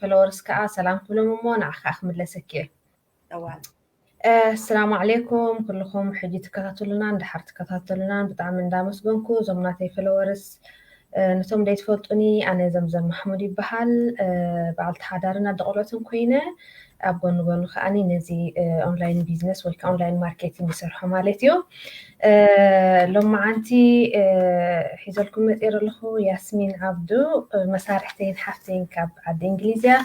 ፈለወርስ ከዓ ሰላም ክብሎም እሞ ንዓ ከዓ ክምለሰኪ እየ እዋን ኣሰላሙ ዓለይኩም ኩልኹም ሕጂ ትከታተሉናን ድሓር ትከታተሉናን ብጣዕሚ እንዳመስገንኩ እዞም ናተይ ፈለወርስ ነቶም ዘይትፈልጡኒ ኣነ ዘምዘም ማሕሙድ ይበሃል በዓልቲ ሓዳርን ኣደ ቆልዑትን ኮይነ ኣብ ጎኒ ጎኒ ከዓ ነዚ ኦንላይን ቢዝነስ ወይ ከዓ ኦንላይን ማርኬቲንግ ይሰርሖ ማለት እዩ ሎመዓንቲ ሒዘልኩም መፅኤ ዘለኹ ያስሚን ዓብዱ መሳርሕተይን ሓፍተይን ካብ ዓዲ እንግሊዝ እያ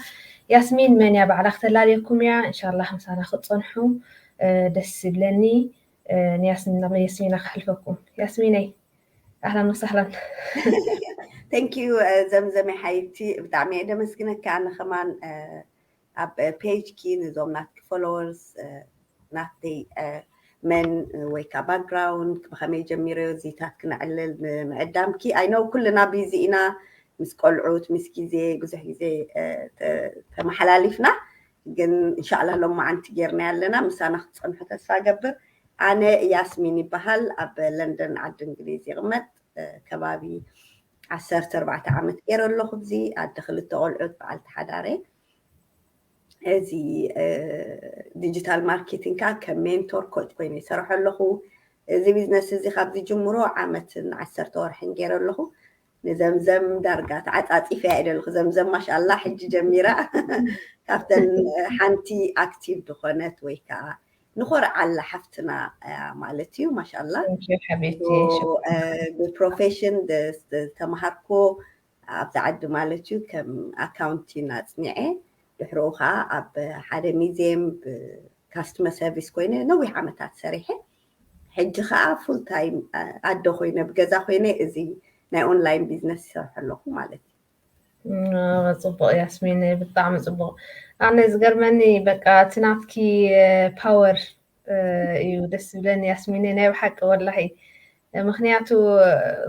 ያስሚን መን እያ ባዕላ ክተላለየኩም እያ እንሻላ ምሳና ክትፀንሑ ደስ ይብለኒ ንያስሚን ናብ ያስሚና ክሕልፈኩም ያስሚነይ ኣህላ ወሰህላን ተንኪዩ ዘምዘመ ሓይቲ ብጣዕሚ እየ ደመስግነካ ንኸማን ኣብ ፔጅኪ ንዞም ናትኪ ፎሎወርስ ናተይ መን ወይ ከዓ ባክግራውንድ ብኸመይ ጀሚረ እዚታት ክነዕልል ንምዕዳምኪ ኣይ ኖው ኩልና ቢዚ ኢና ምስ ቆልዑት ምስ ግዜ ብዙሕ ግዜ ተመሓላሊፍና ግን እንሻላ ሎማዓንቲ ጌርና ኣለና ምሳና ክትፀንሑ ተስፋ ገብር ኣነ ያስሚን ይበሃል ኣብ ለንደን ዓዲ እንግሊዝ ይቕመጥ ከባቢ ዓሰርተ ኣርባዕተ ዓመት ገይረ ኣለኹ ኣብዚ ኣደ ክልተ ቆልዑት በዓልቲ ሓዳር እየ እዚ ዲጂታል ማርኬቲንግ ከዓ ከም ሜንቶር ኮች ኮይነ ይሰርሖ ኣለኹ እዚ ቢዝነስ እዚ ካብ ዝጅምሮ ዓመትን ዓሰርተ ወርሕን ገይረ ኣለኹ ንዘምዘም ዳርጋ ተዓፃፂፈ እያ ኢለ ኣለኹ ዘምዘም ማሻላ ሕጂ ጀሚራ ካብተን ሓንቲ ኣክቲቭ ዝኾነት ወይ ከዓ ንኾርዓላ ሓፍትና ማለት እዩ ማሻላ ብፕሮፌሽን ዝተምሃርኮ ኣብዚ ዓዲ ማለት እዩ ከም ኣካውንቲን ኣፅኒዐ ድሕርኡ ከዓ ኣብ ሓደ ሚዜም ካስትመር ሰርቪስ ኮይነ ነዊሕ ዓመታት ሰሪሐ ሕጂ ከዓ ፉል ታይም ኣደ ኮይነ ብገዛ ኮይነ እዚ ናይ ኦንላይን ቢዝነስ ይሰርሐ ኣለኹ ማለት እዩ ጽቡቅ ያስሚን ብጣዕሚ ጽቡቅ ኣነ ዝገርመኒ በቃ እቲ ናትኪ ፓወር እዩ ደስ ዝብለኒ ያስሚን ናይ ብሓቂ ወላሂ ምክንያቱ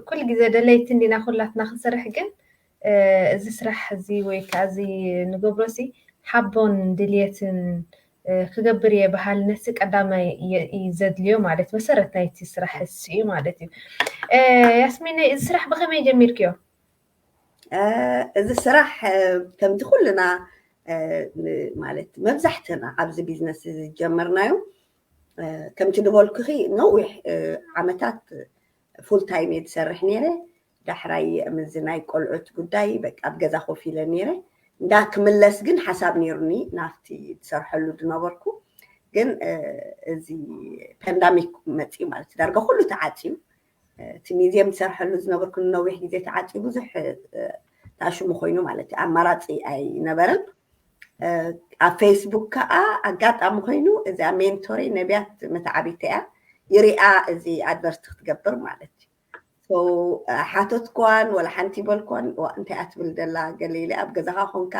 ኩል ግዜ ደለይቲ እንዲና ኩላትና ክንሰርሕ ግን እዚ ስራሕ እዚ ወይ ከዓ እዚ ንገብሮ ሲ ሓቦን ድልየትን ክገብር እየ በሃል ነቲ ቀዳማይ ዘድልዮ ማለት መሰረት ናይቲ ስራሕ እሱ እዩ ማለት እዩ ያስሚን እዚ ስራሕ ብከመይ ጀሚርክዮ እዚ ስራሕ ከምቲ ኩልና ማለት መብዛሕትና ኣብዚ ቢዝነስ እዚ ዝጀመርናዮ ከምቲ ዝበልኩኺ ነዊሕ ዓመታት ፉል ታይም እየ ዝሰርሕ ነይረ ዳሕራይ ምዚ ናይ ቆልዑት ጉዳይ በቃ ኣብ ገዛ ኮፍ ኢለ ነይረ እንዳ ክምለስ ግን ሓሳብ ነይሩኒ ናብቲ ዝሰርሐሉ ዝነበርኩ ግን እዚ ፓንዳሚክ መፅኡ ማለት ዳርጋ ኩሉ ተዓፅዩ እቲ ሚዝየም ዝሰርሐሉ ዝነበርኩ ንነዊሕ ግዜ ተዓፅዩ ብዙሕ ታሽሙ ኮይኑ ማለት እዩ ኣማራፂ ኣይነበረን ኣብ ፌስቡክ ከዓ ኣጋጣሚ ኮይኑ እዚኣ ሜንቶሪ ነቢያት መተዓቢተ እያ ይሪኣ እዚ ኣድቨርት ክትገብር ማለት እዩ ሓተትኳን ወላ ሓንቲ በልኳን እንታይ እያ ትብል ዘላ ገለ ኢለ ኣብ ገዛኻ ኮንካ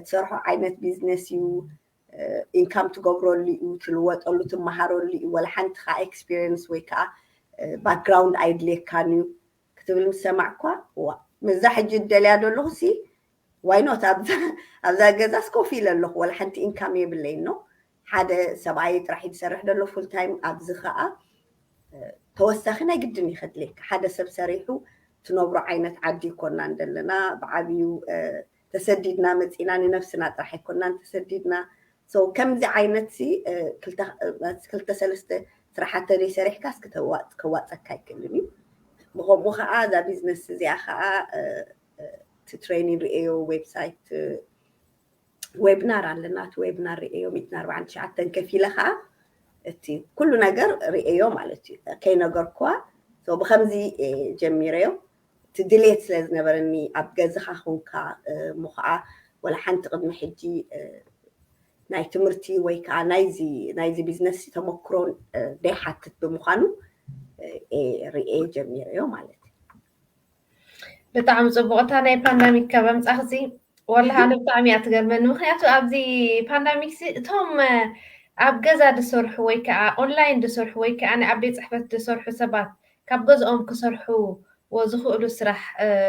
ትሰርሖ ዓይነት ቢዝነስ እዩ ኢንካም ትገብረሉ እዩ፣ ትልወጠሉ፣ ትመሃረሉ እዩ፣ ዋላ ሓንቲ ከኣ ኤክስፒሪየንስ ወይ ከኣ ባክግራውንድ ኣይድልየካን እዩ ክትብል ምስ ሰማዕኳ እዋእ ነዛ ሕጂ እደልያ ዘለኹሲ ዋይ ኖት ኣብዛ ገዛስ ኮፍ ኢለ ኣለኹ ዋላ ሓንቲ ኢንካም የብለይን ነው ሓደ ሰብኣይ ጥራሕ እዩ ዝሰርሕ ዘሎ ፉል ታይም ኣብዚ ከዓ ተወሳኺ ናይ ግድን እዩ ከድልየካ ሓደ ሰብ ሰሪሑ ትነብሮ ዓይነት ዓዲ ይኮናን ዘለና ብዓብዩ ተሰዲድና መጺእና ንነብስና ጥራሕ ኣይኮናን ተሰዲድና so ከምዚ ዓይነት ሲ ክልተ ክልተ ሰለስተ ስራሓት ተዘይ ሰሪሕካ እስኪ ተዋጽ ከዋጸካ ኣይክእልን እዩ ብከምኡ ከዓ እዛ ቢዝነስ እዚኣ ከዓ ትትሬኒ ርእዮ ዌብሳይት ዌብናር ኣለና እቲ ዌብናር ርእዮ ሚእትን ኣርባዓን ትሽዓተን ከፊለ ከዓ እቲ ኩሉ ነገር ርእዮ ማለት እዩ ከይነገርኩዋ ብከምዚ ጀሚረዮ እቲ ድሌት ስለ ዝነበረኒ ኣብ ገዝኻ ኹንካ እሞ ኸኣ ወላ ሓንቲ ቅድሚ ሕጂ ናይ ትምህርቲ ወይ ከኣ ናይዚ ናይዚ ቢዝነስ ተመክሮ ዘይሓትት ብምዃኑ እየ ርእየ ጀሚረዮ ማለት እዩ። ብጣዕሚ ጽቡቕ እታ ናይ ፓንዳሚክ ካብ ኣምጻኽሲ ወላሂ ኣነ ብጣዕሚ እያ ትገርመኒ ምክንያቱ ኣብዚ ፓንዳሚክ እቶም ኣብ ገዛ ዝሰርሑ ወይ ከዓ ኦንላይን ዝሰርሑ ወይ ከዓ ኣብ ቤት ፅሕፈት ዝሰርሑ ሰባት ካብ ገዝኦም ክሰርሑዎ ዝኽእሉ ስራሕ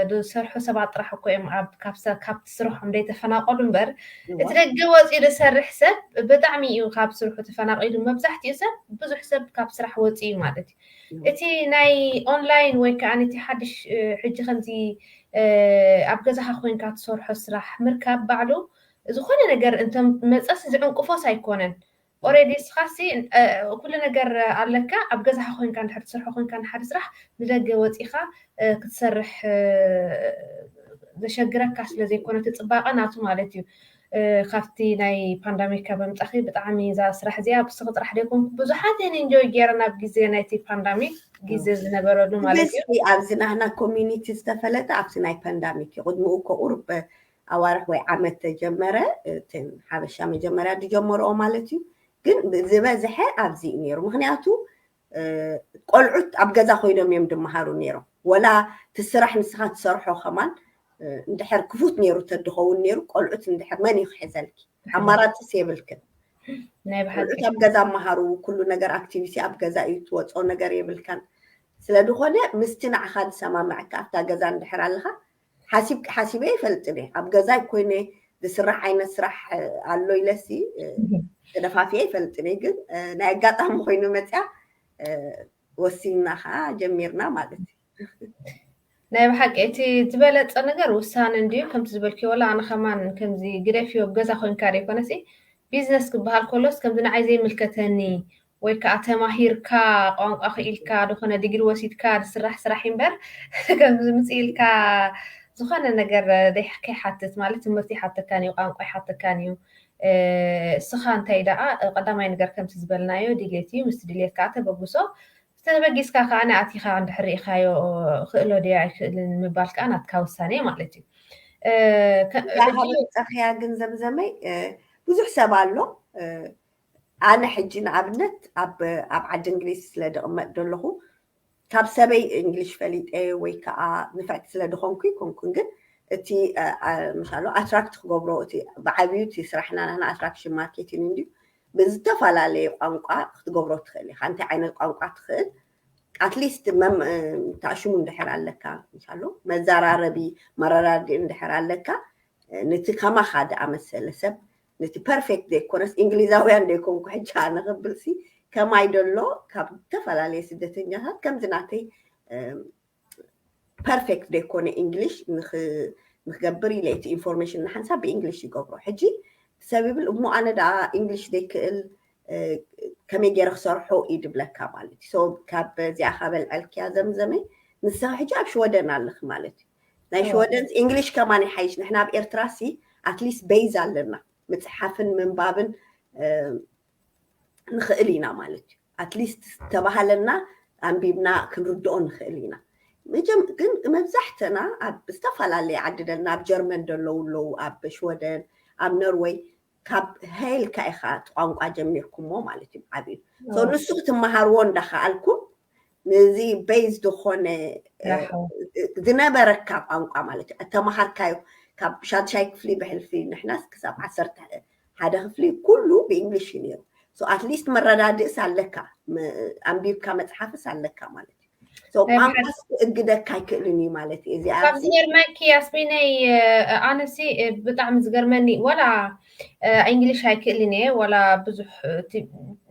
ዝሰርሑ ሰባት ጥራሕ እኮ እዮም ካብቲ ስርሖም ዘይተፈናቐሉ እምበር እቲ ደገ ወፂኡ ዝሰርሕ ሰብ ብጣዕሚ እዩ ካብ ስርሑ ተፈናቒሉ። መብዛሕቲኡ ሰብ ብዙሕ ሰብ ካብ ስራሕ ወፂኡ እዩ ማለት እዩ። እቲ ናይ ኦንላይን ወይ ከዓ እቲ ሓድሽ ሕጂ ከምዚ ኣብ ገዛኻ ኮይንካ ትሰርሖ ስራሕ ምርካብ ባዕሉ ዝኾነ ነገር እንተመፀስ ዝዕንቅፎስ ኣይኮነን። ኦሬዲ እስኻሲ ኩሉ ነገር ኣለካ ኣብ ገዛኻ ኮንካ እንድሕር ትሰርሖ ኮንካ ንሓደ ስራሕ ንደገ ወጺኻ ክትሰርሕ ዘሸግረካ ስለ ዘይኮነ እቲ ጽባቐ ናቱ ማለት እዩ ካብቲ ናይ ፓንዳሚካ ብምጻኺ ብጣዕሚ እዛ ስራሕ እዚኣ ብስኺ ጥራሕ ደይኮንኩ ብዙሓት እየን ኢንጆይ ገይረን ኣብ ግዜ ናይቲ ፓንዳሚክ ግዜ ዝነበረሉ ማለት እዩ ኣብዚ ናህና ኮሚኒቲ ዝተፈለጠ ኣብዚ ናይ ፓንዳሚክ እዩ ቅድምኡ እኮ ቁሩብ ኣዋርሕ ወይ ዓመት ተጀመረ እቲ ሓበሻ መጀመርያ ዝጀመርኦ ማለት እዩ ግን ዝበዝሐ ኣብዚ እዩ ነይሩ ምክንያቱ ቆልዑት ኣብ ገዛ ኮይኖም እዮም ድመሃሩ ነይሮም ወላ እቲ ስራሕ ንስኻ ትሰርሖ ከማን እንድሕር ክፉት ነይሩ ተድኸውን ነይሩ ቆልዑት እንድሕር መን እዩ ክሕዘልኪ ኣማራፅስ የብልክን ናይ ብሓቂ ኣብ ገዛ መሃሩ ኩሉ ነገር ኣክቲቪቲ ኣብ ገዛ እዩ ትወፆ ነገር የብልካን ስለ ዝኾነ ምስቲ ንዓኻ ዝሰማምዐካ ኣብታ ገዛ እንድሕር ኣለኻ ሓሲብኪ ሓሲበ ይፈልጥን እየ ኣብ ገዛይ ኮይነ ዝስራሕ ዓይነት ስራሕ ኣሎ ኢለሲ ተደፋፊየ ይፈልጥን እየ ግን ናይ ኣጋጣሚ ኮይኑ መፅያ ወሲንና ከዓ ጀሚርና ማለት እዩ ናይ ብሓቂ እቲ ዝበለፀ ነገር ውሳነ እንድዩ ከምቲ ዝበልክዮ ወላ ኣነ ከማን ከምዚ ግደፍዮ ገዛ ኮንካ ዘይኮነሲ ቢዝነስ ክበሃል ከሎስ ከምዚ ንዓይ ዘይምልከተኒ ወይ ከኣ ተማሂርካ ቋንቋ ክኢልካ ዝኾነ ዲግሪ ወሲድካ ዝስራሕ ስራሕ እዩ እምበር ከምዚ ዝምጽእ ኢልካ ዝኾነ ነገር ከይሓትት ማለት ትምህርቲ ይሓተካን እዩ ቋንቋ ይሓተካን እዩ እስኻ እንታይ ደኣ ቀዳማይ ነገር ከምቲ ዝበልናዮ ድሌት እዩ ምስቲ ድሌት ከዓ ተበግሶ ተበጊስካ ከዓ ንኣቲኻ እንድሕር ርኢኻዮ ክእሎ ድያ ኣይክእልን ምባል ከዓ ናትካ ውሳኔ እዩ ማለት እዩ ጸኽያ ግን ዘምዘመይ ብዙሕ ሰብ ኣሎ ኣነ ሕጂ ንኣብነት ኣብ ኣብ ዓዲ እንግሊዝ ስለ ድቕመጥ ደለኹ ካብ ሰበይ እንግሊሽ ፈሊጠ ወይ ከዓ ንፍዕቲ ስለ ድኾንኩ ይኮንኩን ግን እቲ ምሳሉ ኣትራክት ክገብሮ እቲ ብዓብዩ እቲ ስራሕና ናህና ኣትራክሽን ማርኬቲን እንድዩ ብዝተፈላለየ ቋንቋ ክትገብሮ ትኽእል ኢኻ እንታይ ዓይነት ቋንቋ ትኽእል ኣትሊስት ታሽሙ እንድሕር ኣለካ ምሳሉ መዘራረቢ መረዳድኢ እንድሕር ኣለካ ነቲ ከማኻ ዝኣመሰለ ሰብ ነቲ ፐርፌክት ዘይኮነስ እንግሊዛውያን ዘይኮንኩ ሕጂ ከዓ ንኽብልሲ ከማይ ደሎ ካብ ዝተፈላለየ ስደተኛታት ከምዚ ናተይ ፐርፌክት ዘይኮነ እንግሊሽ ንክገብር ኢለ እቲ ኢንፎርሜሽን ንሓንሳብ ብእንግሊሽ ይገብሮ ሕጂ ሰብ ይብል እሞ ኣነ ደኣ እንግሊሽ ዘይክእል ከመይ ገይረ ክሰርሖ እዩ ድብለካ ማለት እዩ ካብ እዚኣ ካበልዐልክያ ዘምዘመ ንስኻ ሕጂ ኣብ ሽወደን ኣለኺ ማለት እዩ ናይ ሽወደን እንግሊሽ ከማን ይሓይሽ ንሕና ኣብ ኤርትራ ሲ ኣትሊስት በይዝ ኣለና ምፅሓፍን ምንባብን ንኽእል ኢና ማለት እዩ ኣትሊስት ዝተባሃለና ኣንቢብና ክንርድኦ ንኽእል ኢና ግን መብዛሕተና ኣብ ዝተፈላለየ ዓዲ ደልና ኣብ ጀርመን ደለዉ ኣለዉ ኣብ ሽወደን ኣብ ኖርወይ ካብ ሀ ኢልካ ኢኻ እቲ ቋንቋ ጀሚርኩሞ ማለት እዩ ብዓብዩ ሶ ንሱ ክትመሃርዎ እንዳኸኣልኩም ንዚ ቤዝ ዝኾነ ራሕው ዝነበረካ ቋንቋ ማለት እዩ እተመሃርካዮ ካብ ሻድሻይ ክፍሊ ብሕልፊ ንሕናስ ክሳብ ዓሰርተ ሓደ ክፍሊ ኩሉ ብእንግሊሽ እዩ ነይሩ ኣትሊስት መረዳድእስ ኣለካ ኣንቢብካ መፅሓፍስ ኣለካ ማለት እዩ ቋንቋስ ክእግደካ ኣይክእልን እዩ ማለት እዩ እዚኣ ካብ ዝገርመኪ ያስሚነይ ኣነሲ ብጣዕሚ ዝገርመኒ ዋላ እንግሊሽ ኣይክእልን እየ ዋላ ብዙሕ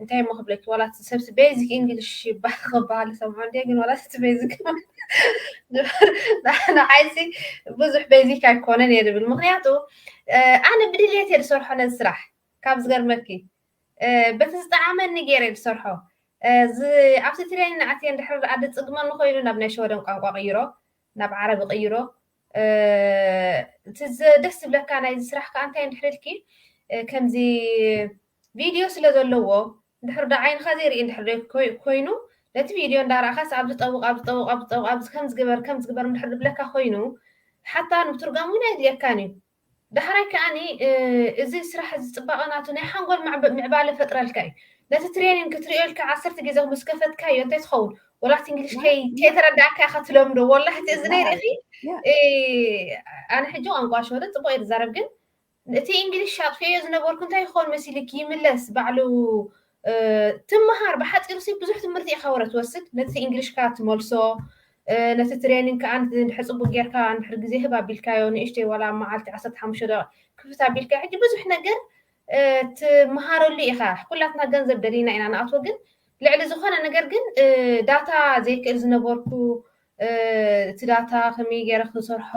እንታይ ሞ ክብለኪ ዋላ ሰብሲ ቤዚክ እንግሊሽ ይባሃል ክበሃል ሰምዖ እንዲየ ግን ዋላ እቲ ቤዚክ ንዓይሲ ብዙሕ ቤዚክ ኣይኮነን እየ ዝብል ምክንያቱ ኣነ ብድልየት እየ ዝሰርሖ ነዚ ስራሕ ካብ ዝገርመኪ በቲ ዝጠዓመኒ ገይረ ዝሰርሖ ኣብዚ ትሪኒ ኣትየ እንድሕር ደኣ ድጽግመኒ ኮይኑ ናብ ናይ ሸወደን ቋንቋ ቅይሮ ናብ ዓረብ ቅይሮ እቲ ደስ ዝብለካ ናይዚ ስራሕ ከዓ እንታይ እንድሕር ኢልኪ ከምዚ ቪድዮ ስለ ዘለዎ እንድሕር ዶ ዓይንኻ ዘይርኢ እንድሕር ኮይኑ ነቲ ቪድዮ እንዳረኣኻስ ኣብ ዝጠውቕ ኣብ ዝጠውቕ ኣብ ዝጠውቕ ኣብዚ ከም ዝግበር ከም ዝግበር እንድሕር ዝብለካ ኮይኑ ሓታ ምትርጓም እውን ኣይድልየካን እዩ ዳሕራይ ከኣኒ እዚ ስራሕ እዚ ጽባቀ ናቱ ናይ ሓንጎል ምዕባለ ይፈጥረልካ እዩ ነቲ ትሬኒን ክትሪኦ ኢልካ ዓሰርተ ጌዜ ምስ ከፈትካዮ እንታይ ትኸውን ወላ እቲ እንግሊሽ ከይተረዳእካ ኢኻ ትለምዶ ወላ እቲ እዝነይ ርኢኺ ኣነ ሕጂ ቋንቋ ሸወደን ጽቡቅ እየ ዝዛረብ ግን እቲ እንግሊሽ ኣጥፊኦዮ ዝነበርኩ እንታይ ይኸውን መሲልኪ ይምለስ ባዕሉ ትመሃር ብሓጺሩ ሲ ብዙሕ ትምህርቲ ኢኻ ወረ ትወስድ ነቲ እንግሊሽካ ትመልሶ ነቲ ትሬኒንግ ከዓ እንድሕር ፅቡቅ ጌርካ እንድሕር ግዜ ህብ ኣቢልካዮ ንእሽተይ ዋላ መዓልቲ ዓሰርተ ሓሙሽተ ደቂቅ ክፍት ኣቢልካ ሕጂ ብዙሕ ነገር ትመሃረሉ ኢኻ ኩላትና ገንዘብ ደሊና ኢና ንኣትዎ ግን ልዕሊ ዝኾነ ነገር ግን ዳታ ዘይክእል ዝነበርኩ እቲ ዳታ ከመይ ገይረ ክንሰርሖ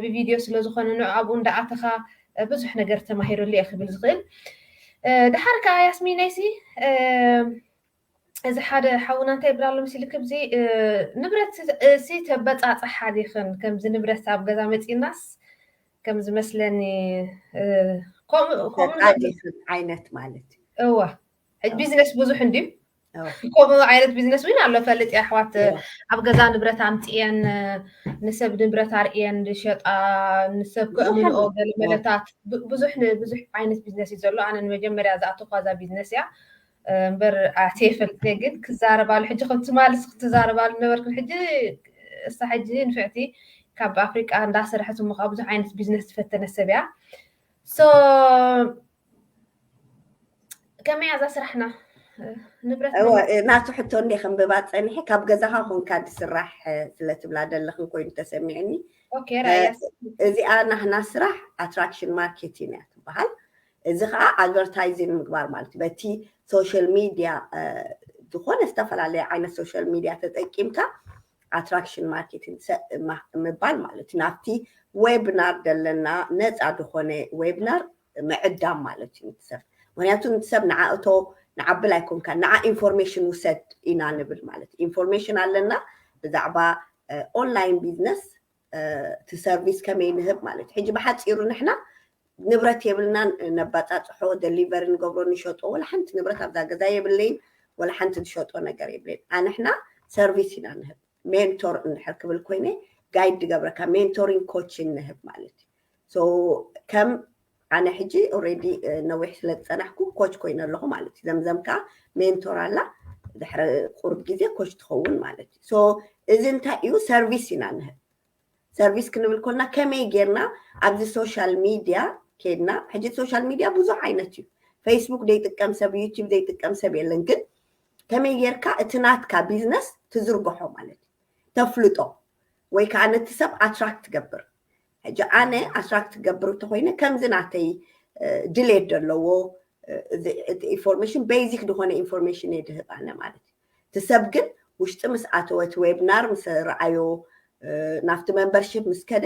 ብቪድዮ ስለ ዝኾነ ንዑ ኣብኡ እንዳኣተኻ ብዙሕ ነገር ተማሂረሉ እየ ክብል ዝኽእል ድሓር ከዓ ያስሚነይሲ እዚ ሓደ ሓውና እንታይ ይብል ኣሎ መሲልክ እዚ ንብረት እሲ ተበፃፅሓ ዲኽን ከምዚ ንብረት ኣብ ገዛ መፂናስ ከም ዝመስለኒ ከምኡ ዓይነት ማለት እዋ ሕጂ ቢዝነስ ብዙሕ እንድዩ ከምኡ ዓይነት ቢዝነስ እውን ኣሎ ፈልጥ እየ ኣሕዋት ኣብ ገዛ ንብረት ኣምፅኤን ንሰብ ንብረት ኣርእየን ዝሸጣ ንሰብ ከእምንኦ ገለ መለታት ብዙሕ ብዙሕ ዓይነት ቢዝነስ እዩ ዘሎ ኣነ ንመጀመርያ ዝኣተኳ እዛ ቢዝነስ እያ እምበር ኣትየ ፈልጥ እየ ግን ክዛረባሉ ሕጂ ከም ትማልስ ክትዛረባሉ ነበርክን ሕጂ እሳ ሕጂ ንፍዕቲ ካብ ኣፍሪቃ እንዳሰረሐት እሞ ከዓ ብዙሕ ዓይነት ቢዝነስ ዝፈተነ ሰብ እያ ሶ ከመይ ኣዛ ስራሕና ንብረት እወ ናቱ ሕቶ እንደ ከንብባ ፀኒሐ ካብ ገዛኻ ኮንካ ዝስራሕ ስለትብላ ደለኽን ኮይኑ ተሰሚዕኒ እዚኣ ናህና ስራሕ ኣትራክሽን ማርኬቲን እያ ትበሃል እዚ ከዓ ኣድቨርታይዚን ምግባር ማለት እዩ በቲ ሶሻል ሚድያ ዝኾነ ዝተፈላለየ ዓይነት ሶሻል ሚድያ ተጠቂምካ ኣትራክሽን ማርኬቲን ምባል ማለት እዩ ናብቲ ዌብናር ዘለና ነፃ ዝኾነ ዌብናር ምዕዳም ማለት እዩ ንቲ ሰብ ምክንያቱ ንቲ ሰብ ንዓ እቶ ንዓ ብል ኣይኮንካን ንዓ ኢንፎርሜሽን ውሰድ ኢና ንብል ማለት እዩ ኢንፎርሜሽን ኣለና ብዛዕባ ኦንላይን ቢዝነስ እቲ ሰርቪስ ከመይ ንህብ ማለት እዩ ሕጂ ብሓፂሩ ንሕና ንብረት የብልናን ነባፃፅሖ ደሊቨሪ ንገብሮ ንሸጦ ወላ ሓንቲ ንብረት ኣብዛ ገዛ የብለይን ወላ ሓንቲ ዝሸጦ ነገር የብለይን ኣንሕና ሰርቪስ ኢና ንህብ ሜንቶር እንድሕር ክብል ኮይነ ጋይድ ድገብረካ ሜንቶሪን ኮችን ንህብ ማለት እዩ ሶ ከም ኣነ ሕጂ ኦልሬዲ ነዊሕ ስለ ዝፀናሕኩ ኮች ኮይነ ኣለኹ ማለት እዩ ዘምዘም ከዓ ሜንቶር ኣላ ድሕሪ ቁርብ ግዜ ኮች ትኸውን ማለት እዩ ሶ እዚ እንታይ እዩ ሰርቪስ ኢና ንህብ ሰርቪስ ክንብል ኮልና ከመይ ጌርና ኣብዚ ሶሻል ሚድያ ኬድና ሕጂ ሶሻል ሚድያ ብዙሕ ዓይነት እዩ ፌስቡክ ዘይጥቀም ሰብ ዩቲብ ዘይጥቀም ሰብ የለን ግን ከመይ ጌርካ እቲ ናትካ ቢዝነስ ትዝርግሖ ማለት እዩ ተፍልጦ ወይ ከዓ ነቲ ሰብ ኣትራክት ትገብር ሕጂ ኣነ ኣስራት ክገብር እንተኮይነ ከምዚ ናተይ ድሌት ዘለዎ እቲ ኢንፎርሜሽን ቤዚክ ዝኾነ ኢንፎርሜሽን እየ ድህብ ኣነ ማለት እዩ እቲ ሰብ ግን ውሽጢ ምስ ኣተወ እቲ ዌብናር ምስ ረኣዮ ናብቲ መምበርሽፕ ምስ ከደ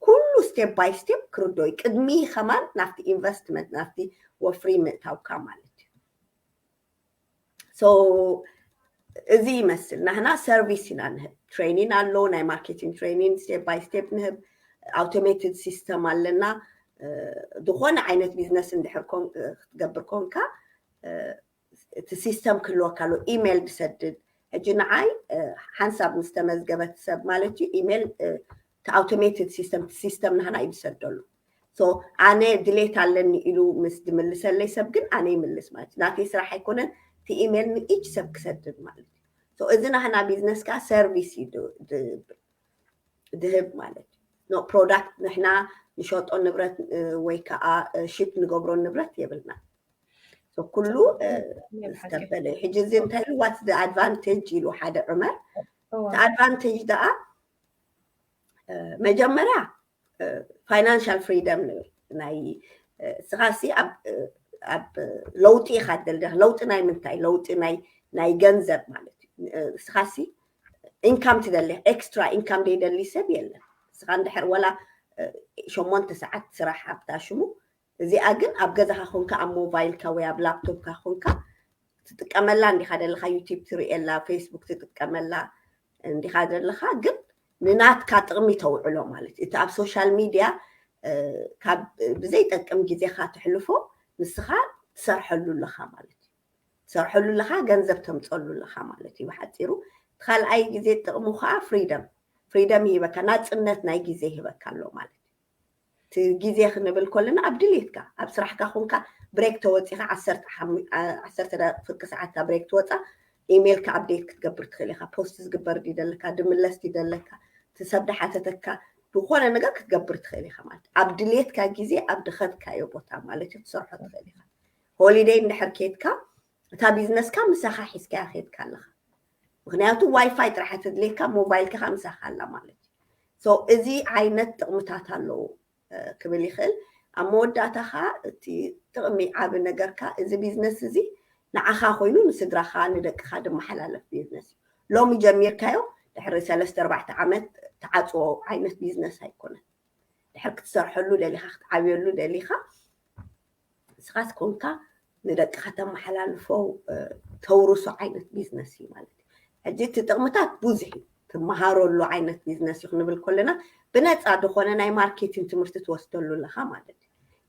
ኩሉ ስቴፕ ባይ ስቴፕ ክርዶ እዩ ቅድሚ ከማን ናብቲ ኢንቨስትመንት ናብቲ ወፍሪ ምእታውካ ማለት እዩ እዚ ይመስል ናህና ሰርቪስ ኢና ንህብ ትሬኒን ኣሎ ናይ ማርኬቲንግ ትሬኒን ስቴፕ ባይ ስቴፕ ንህብ ኣውቶሜትድ ሲስተም ኣለና ዝኾነ ዓይነት ቢዝነስ እንድሕር ክትገብር ኮንካ እቲ ሲስተም ክህልወካ ኣሎ ኢሜይል ብሰድድ ሕጂ ንዓይ ሓንሳብ ምስ ተመዝገበት ሰብ ማለት እዩ ኢሜይል እቲ ኣውቶሜትድ ሲስተም እቲ ሲስተም ናህና እዩ ዝሰደሉ ኣነ ድሌት ኣለኒ ኢሉ ምስ ድምልሰለይ ሰብ ግን ኣነ ይምልስ ማለት እዩ ናተይ ስራሕ ኣይኮነን እቲ ኢሜል ንኢች ሰብ ክሰድድ ማለት እዩ እዚ ናህና ቢዝነስ ከዓ ሰርቪስ እዩ ድህብ ማለት እዩ ኖ ፕሮዳክት ንሕና ንሸጦ ንብረት ወይ ከዓ ሽፕ ንገብሮ ንብረት የብልና ኩሉ ዝተበለ ሕጂ እዚ እንታይ ኢሉ ዋትስ ኣድቫንቴጅ ኢሉ ሓደ ዑመር እቲ ኣድቫንቴጅ ደኣ መጀመርያ ፋይናንሻል ፍሪደም ንብል ናይ እስኻሲ ኣብ ለውጢ ኢኻ ትደልደኽ ለውጢ ናይ ምንታይ ለውጢ ናይ ገንዘብ ማለት እዩ እስኻሲ ኢንካም ትደሊ ኤክስትራ ኢንካም ዘይደሊ ሰብ የለን ንስኻ እንድሕር ወላ ሸሞንተ ሰዓት ስራሕ ኣብታ ሽሙ እዚኣ ግን ኣብ ገዛኻ ኮንካ ኣብ ሞቫይልካ ወይ ኣብ ላፕቶፕካ ኮንካ ትጥቀመላ እንዲኻ ዘለኻ ዩቲብ ትርእየላ ፌስቡክ ትጥቀመላ እንዲኻ ዘለኻ ግን ንናትካ ጥቕሚ ተውዕሎ ማለት እቲ ኣብ ሶሻል ሚድያ ካብ ብዘይጠቅም ግዜኻ ተሕልፎ ንስኻ ትሰርሐሉ ኣለኻ ማለት እዩ ትሰርሐሉ ኣለኻ ገንዘብ ተምፀሉ ኣለኻ ማለት እዩ ብሓፂሩ ካልኣይ ግዜ ጥቕሙ ከዓ ፍሪደም ፍሪደም ይህበካ ናፅነት ናይ ግዜ ይህበካ ኣሎ ማለት እቲ ግዜ ክንብል ከለና ኣብ ድሌትካ ኣብ ስራሕካ ኮንካ ብሬክ ተወጺኻ ዓሰርተ ሓሙ ዓ ዓሰርተ ደቂቅ ፍርቂ ሰዓት እታ ብሬክ ትወጻ ኢሜልካ ኣብዴት ክትገብር ትኽእል ኢኻ ፖስት ዝግበር ድዩ ደለካ ድምለስ ድዩ ደለካ እቲ ሰብ ድሓተተካ ዝኾነ ነገር ክትገብር ትኽእል ኢኻ ማለት ኣብ ድሌትካ ግዜ ኣብ ድኸድካዮ ቦታ ማለት እዩ ክትሰርሖ ትኽእል ኢኻ ሆሊደይ እንድሕር ኬድካ እታ ቢዝነስካ ምሳኻ ሒዝካያ ኬድካ ኣለኻ ምክንያቱ ዋይፋይ ጥራሕ ተድልየካ ሞባይልካ ከ ምሳካ ኣላ ማለት ሶ እዚ ዓይነት ጥቕምታት ኣለዎ ክብል ይኽእል ኣብ መወዳእታ ከኣ እቲ ጥቕሚ ዓቢ ነገር ከኣ እዚ ቢዝነስ እዚ ንዓኻ ኮይኑ ንስድራኻ ንደቅኻ ድመሓላለፍ ቢዝነስ እዩ ሎሚ ጀሚርካዮ ድሕሪ ሰለስተ ኣርባዕተ ዓመት ተዓፅዎ ዓይነት ቢዝነስ ኣይኮነን ድሕር ክትሰርሐሉ ደሊኻ ክትዓብየሉ ደሊኻ ንስኻትኩምካ ንደቅኻ ተመሓላልፎ ተውርሶ ዓይነት ቢዝነስ እዩ ማለት እዩ ሕጂ እቲ ጥቕምታት ብዙሕ እዩ ትመሃረሉ ዓይነት ቢዝነስ እዩ ክንብል ከለና ብነፃ ዝኾነ ናይ ማርኬቲን ትምህርቲ ትወስደሉ ኣለኻ ማለት እዩ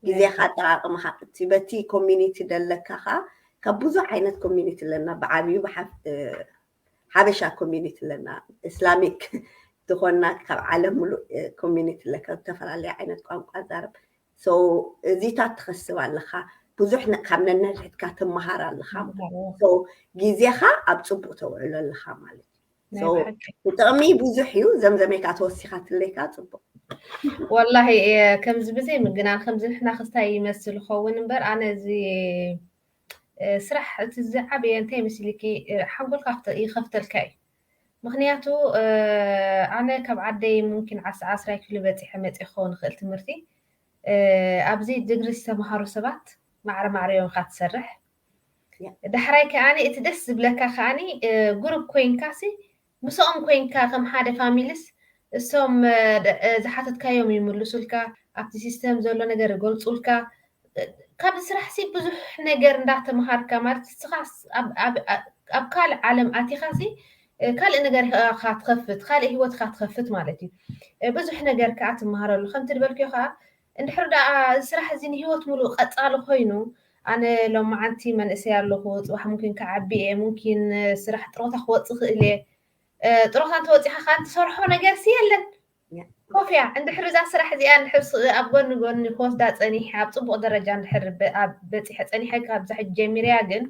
ግዜኻ ኣጠቃቅምኻ እቲ በቲ ኮሚኒቲ ደለካ ከዓ ካብ ብዙ ዓይነት ኮሚኒቲ ኣለና ብዓብዩ ሓበሻ ኮሚኒቲ ኣለና እስላሚክ ዝኾና ካብ ዓለም ሙሉእ ኮሚኒቲ ኣለካ ዝተፈላለዩ ዓይነት ቋንቋ ዛረብ So እዚታት ትኸስብ ኣለኻ ብዙሕ ነ- ካብ ነንሕድሕድካ ትመሃር ኣለኻ ማለት እዩ። ተምሃሮ So ግዜኻ ኣብ ፅቡቅ ተውዕሎ ኣለኻ ማለት እዩ። ናይ So ብሓቂ ጥቅሚ ብዙሕ እዩ ዘምዘሜታ ተወሲኻትለይካ ፅቡቅ ወላሂ እየ ከምዚ ብዘይ ምግናን ከምዚ ንሕና ክስታይ ይመስል ይኸውን እምበር ኣነ እዚ እ፣ ስራሕ እቲ ዝዓበየ እንታይ መሲልኪ እ፣ ሓንጎልካ ክተ- ይኸፍተልካ እዩ ምኽንያቱ ኣነ ካብ ዓደይ ሙምኪን ዓስራ ዓስራይ ክፍሊ በጺሐ መጺ ክኸውን ይኽእል ትምህርቲ ኣብዚ ድግሪ ዝተምሃሩ ሰባት ማዕረ ማዕረ እዮም ኢኻ ትሰርሕ ዳሕራይ ከኣኒ እቲ ደስ ዝብለካ ከኣኒ ጉሩብ ኮይንካሲ ምስኦም ኮይንካ ከም ሓደ ፋሚልስ እሶም ዝሓተትካዮም ይምሉሱልካ ኣብቲ ሲስተም ዘሎ ነገር ይገልጹልካ ካብዚ ስራሕ ሲ ብዙሕ ነገር እንዳ ተማሃርካ ማለት ንስኻ ኣብ ካልእ ዓለም ኣቲኻ ሲ ካልእ ነገር ኢኻ ትኸፍት ካልእ ሂወት ኢኻ ትኸፍት ማለት እዩ ብዙሕ ነገር ከኣ ትማሃረሉ ከምቲ ዝበልክዮ ከኣ እንድሕር ደኣ እዚ ስራሕ እዚ ንሂወት ሙሉእ ቀጻሊ ኮይኑ ኣነ ሎማዓንቲ መንእሰይ ኣለኹ ጽባሕ ሙኪን ክዓቢ እየ ሙኪን ስራሕ ጥሮታ ክወጽእ ይኽእል እየ ጥሮታ እንተወጺኻ ከኣ እትሰርሖ ነገርሲ የለን። ኮፍ እያ እንድሕሪ እዛ ስራሕ እዚኣ እንድሕር ኣብ ጎኒ ጎኒ ክወስዳ ጸኒሐ ኣብ ጽቡቕ ደረጃ እንድሕር በጺሐ ጸኒሐ ካብዛ ሕጂ ጀሚረያ ግን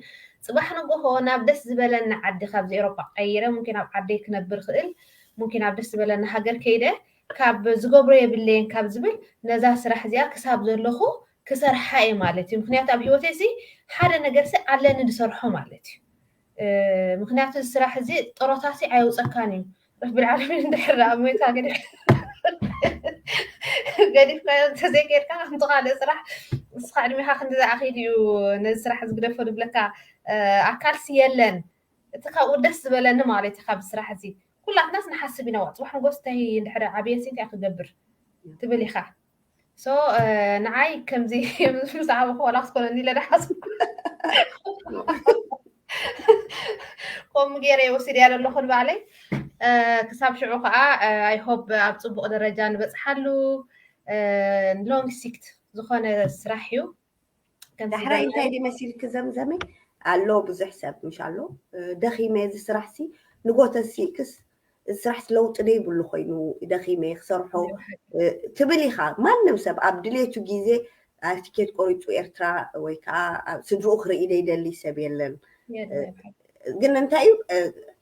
ጽባሕ ንጎሆ ናብ ደስ ዝበለኒ ዓዲ ካብዚ ኤሮጳ ቀይረ ሙኪን ኣብ ዓደይ ክነብር ክእል ሙኪን ኣብ ደስ ዝበለኒ ሃገር ከይደ ካብ ዝገብሮ የብለየን ካብ ዝብል ነዛ ስራሕ እዚኣ ክሳብ ዘለኹ ክሰርሓ እየ ማለት እዩ ምክንያቱ ኣብ ሂወተይሲ ሓደ ነገርሲ ኣለኒ ዝሰርሖ ማለት እዩ ምክንያቱ እዚ ስራሕ እዚ ጥሮታሲ ኣየውፀካን እዩ ረቢ ልዓለሚን እንድሕር ደኣ ሞይካ ገዲፍካዮ እንተዘይከድካ ከምቲ ካልእ ስራሕ ንስኻ ዕድሜኻ ክንዲ ዝኣኺል እዩ ነዚ ስራሕ ዝግደፎ ዝብለካ ኣካልሲ የለን እቲ ካብኡ ደስ ዝበለኒ ማለት እዩ ካብ ስራሕ እዚ ኩላትናስ ንሓስብ ኢና ዋዕ ፅባሕ ንጎስ እንታይ እንድሕር ዓብየሲ እንታይ ክገብር ትብል ኢኻ ሶ ንዓይ ከምዚ ምስ ዓበኹ ዋላ ክትኮነኒ ኢለ ዳሓስኩ ከምኡ ገይረ እየ ወሲደያ ዘለኹ ንባዕለይ ክሳብ ሽዑ ከዓ ኣይሆብ ኣብ ፅቡቅ ደረጃ ንበፅሓሉ ሎንግ ሲክት ዝኾነ ስራሕ እዩ ዳሕራይ እንታይ ድዩ መሲልኪ ዘምዘመይ ኣሎ ብዙሕ ሰብ ምሽ ኣሎ ደኺመ እዚ ስራሕሲ ንጎተ ሲእክስ እዚ ስራሕሲ ለውጢ ደይብሉ ኮይኑ ደኺመ ክሰርሖ ትብል ኢኻ ማንም ሰብ ኣብ ድሌቱ ግዜ ትኬት ቆሪፁ ኤርትራ ወይ ከዓ ስድርኡ ክርኢ ደይደሊ ሰብ የለን ግን እንታይ እዩ